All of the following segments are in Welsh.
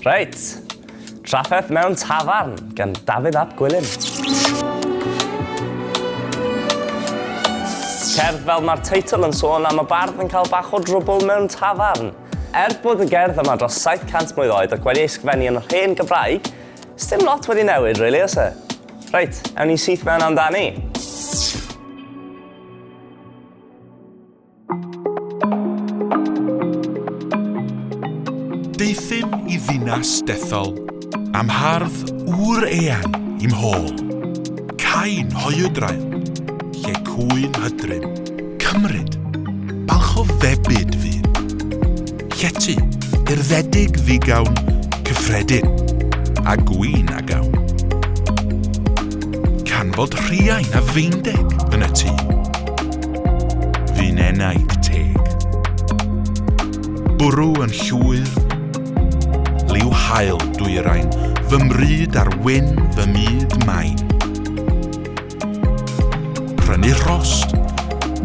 Reit, trafferth mewn tafarn gan Dafydd ap Gwilym. Cerdd fel mae'r teitl yn sôn am y bardd yn cael bach o drwbl mewn tafarn. Er bod y gerdd yma dros 700 mlwydd oed ac wedi ei sgfennu yn yr hen Gymraeg, sdim lot wedi newid, really, oes e? Reit, ewn ni syth mewn amdani. Deuthum i ddinas dethol, am hardd ŵr eang i'm hôl. Cain hoiwdrael, lle cwyn hydryn, cymryd, balch o febyd fydd. Llety, urddedig ddigawn, cyffredin, a gwin a gawn. Canfod rhiain a feindeg yn y tŷ. Fi'n enaid teg. Bwrw yn llwyr, liw hael dwyrain, fy mryd ar wyn fy myd main. Prynu rhost,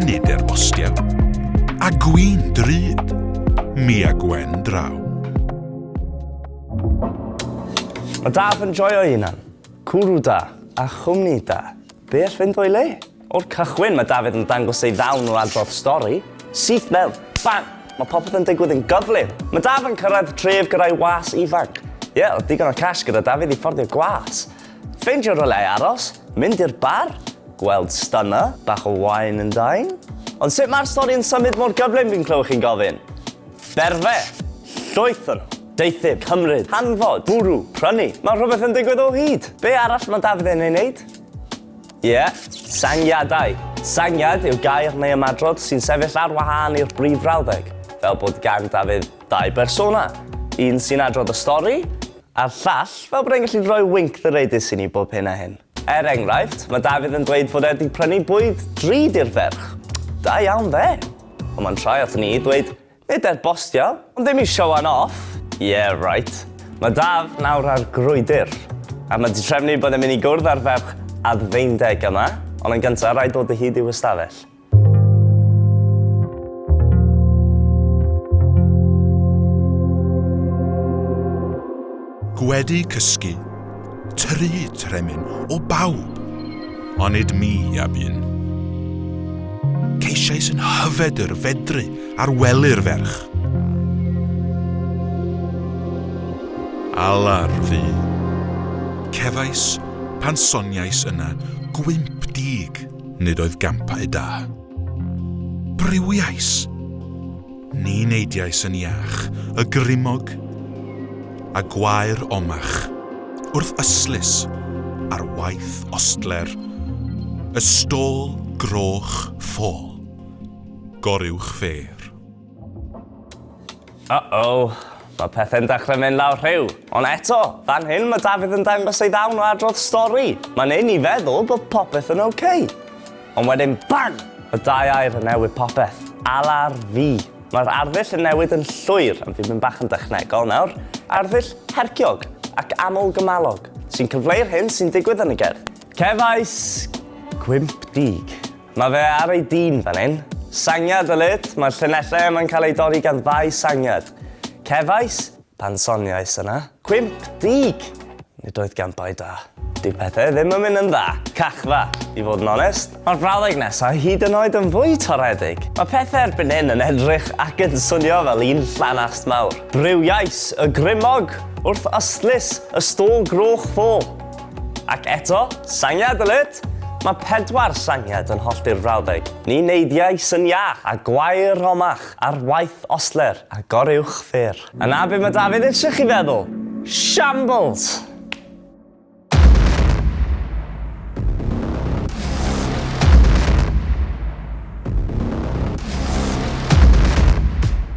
nid er bostiau, a gwyn drud, mi a gwen draw. Mae daf yn joio hunan. Cwrw da a chwmni da. Be all fynd o'i le? O'r cychwyn mae David yn dangos ei ddawn o adrodd stori. Syth mewn, bang! Mae popeth yn digwydd yn gyflym. Mae Daf yn cyrraedd tref gyda'i was ifanc. Ie, yeah, digon o cash gyda David i fforddio gwas. Ffeindio rhywle i aros, mynd i'r bar, gweld stunner, bach o wine and dine. Ond sut mae'r stori yn symud mor gyflym fi'n clywed chi'n gofyn? Berfe! Llwyth o nhw! Deuthyr, cymryd, hanfod, bwrw, prynu. Mae rhywbeth yn digwydd o hyd! Be arall mae Dafydd yn ei wneud? Ie, sangiadau. Sangiad yw gair neu ymadrodd sy'n sefyll ar wahân i'r brif frawddeg, fel bod gan Dafydd ddau bersona, un sy'n adrodd y stori, A'r llall, fel bod e'n gallu rhoi winc ddyreidus i ni bob hyn a hyn. Er enghraifft, mae Dafydd yn dweud fod e 'di prynu bwyd drud i'r ferch. Da iawn dde! Ond mae'n troi aton ni i ddweud, nid er bostio, ond ddim i showan off! Yeah right. Mae Daf nawr ar grwydr. A mae 'di trefnu bod e'n mynd i gwrdd â'r ferch adfeindeg yma, ond yn gynta, rhaid dod o hyd i'w ystafell. Gwedi cysgu, tru tremyn o bawb, onid mi a bun. Ceisiais yn hyfed yr fedru ar wely'r ferch. Alar fi. Cefais pan soniais yna gwymp dig. Nid oedd gampau da. Briwiais! Ni neidiais yn iach, y grimog, a gwair omach, wrth ystlys, ar waith ostler, y stôl groch ffôl. Goruwch fêr. Uh-oh, mae pethe'n dechrau mynd lawr rhiw. Ond eto, fan hyn mae Dafydd yn dangos ei ddawn o adrodd stori. Mae'n neud ni feddwl bod popeth yn ok. Ond wedyn, bang! Y dau air yn newid popeth. Alar fi. Mae'r arddull yn newid yn llwyr, ond fi'n mynd bach yn dechnegol nawr, arddull herciog ac aml-gymalog sy'n cyfleu'r hyn sy'n digwydd yn y gerdd. Cefais gwymp dug. Mae fe ar ei dîn fan hyn. Sangiad o led, mae'r llinellau yma'n cael eu dorri gan ddau sangiad. Cefais, pan soniais yna. Cwymp, dug! Nid oedd gan bai da. Dyw pethau ddim yn mynd yn dda. Cachfa, i fod yn onest. Mae'r frawddeg nesaf hyd yn oed yn fwy toredig. Mae pethau erbyn hyn yn edrych ac yn swnio fel un llanast mawr. Briwiais y grymog wrth ystlys y stôl groch fo. Ac eto, sangiad yn it! Mae pedwar sangiad yn hollti'r frawddeg. Ni neidiau syn iach a gwair romach ar waith ostler a goruwch ffyrr. A 'na be mae Dafydd eisiau chi feddwl! Shambles!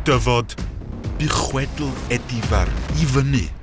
Dyfod, bu chwedl Edifar i fyny.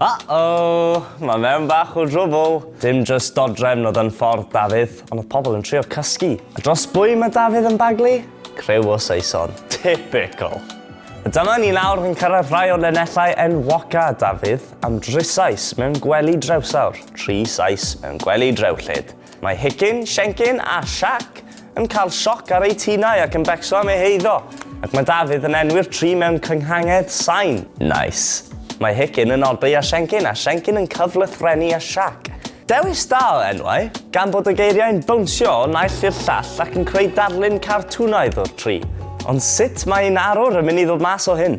Uh-oh, mae mewn bach o drwbl. Dim just dodrefn oedd yn ffordd Dafydd, ond oedd pobl yn trio cysgu. A dros bwy mae Dafydd yn baglu? Crew o Saeson. Typical. A dyma ni nawr yn cyrraedd rhai o'r lenellau enwoca Dafydd am drysais mewn gwely drewsawr, tri sais mewn gwely drewllyd. Mae Hicin, Siencin a Siac yn cael sioc ar eu tinau ac yn becso am eu heiddo, ac mae Dafydd yn enwi'r tri mewn cynghangedd sain. Nice. Mae Hicin yn oddi ar Siencin a Siencin yn cyflythrenu â Siac. Dewis da o enwau, gan bod y geiriau'n bownsio o naill i'r llall ac yn creu darlun cartwnaidd o'r tri. Ond sut mae un arwr yn mynd i ddod mas o hyn?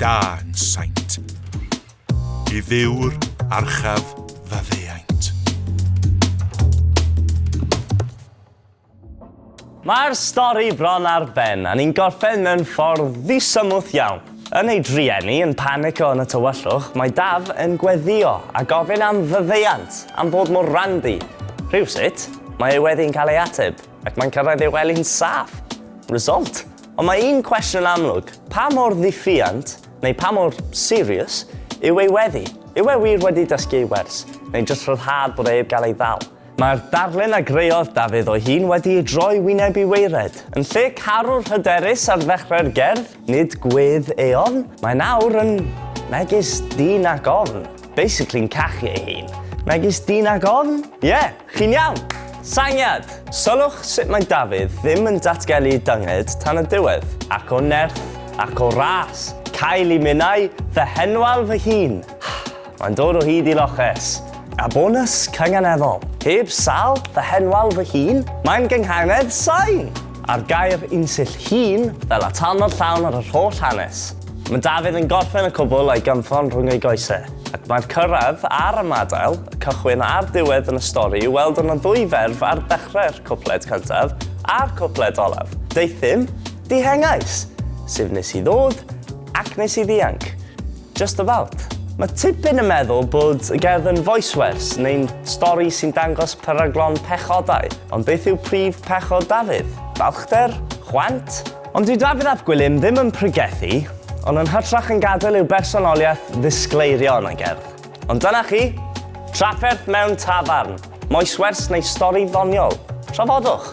Da yn saint. I ddiw'r archaf faddeuaint. Mae'r stori bron ar ben, a ni'n gorffen mewn ffordd ddisymwth iawn. Yn ei drueni, yn panico yn y tywyllwch, mae Daf yn gweddio a gofyn am faddeuant, am fod mor randi. Rhywsut, mae ei weddi'n cael ei ateb, ac mae'n cyrraedd ei wely'n saff. Result? Ond mae un cwestiwn yn amlwg, pa mor ddiffuant, neu pa mor serious, yw ei weddi? Yw e wir wedi dysgu ei wers, neu jyst rhyddhad bod e heb gael ei ddal? Mae'r darlun a greodd Dafydd o'i hun wedi ei droi wyneb i waered. Yn lle carwr hyderus ar ddechrau'r gerdd, nid gwedd Eon, mae nawr yn megis dyn ag ofn. Basically'n cachu ei hun. Megis dyn ag ofn? Ie! Chi'n iawn! Syniad! Sylwch sut mae Dafydd ddim yn datgelu dynged tan y diwedd. Ac o nerth, ac o ras, cael i minnau fy henwal fy hun. Mae'n dod o hyd i loches. A bonws cynganeddol. Heb sal fy henwal fy hun, mae'n gynghanedd sain! A'r gair unsill 'hun' fel atalnod llawn ar yr holl hanes. Mae Dafydd yn gorffen y cwbl a'i gynffon rhwng ei goesau, ac mae'r cyrraedd a'r ymadael, y cychwyn a'r diwedd yn y stori i'w weld yn y ddwy ferf ar ddechrau'r cwpled cyntaf a'r cwpled olaf, Deuthum, dihengais! sef nes i ddod ac nes i ddianc. Just about. Mae tipyn yn meddwl bod y gerdd yn voicewers neu'n stori sy'n dangos peryglon pechodau, ond beth yw prif pechod Dafydd? Balchder? Chwant? Ond dyw Dafydd ap Gwilym ddim yn pregethu, ond yn hytrach yn gadael i'w bersonoliaeth ddisgleirio yn ei gerdd. Ond dyna chi, trafferth mewn tafarn, moeswers neu stori ddoniol. Trafodwch!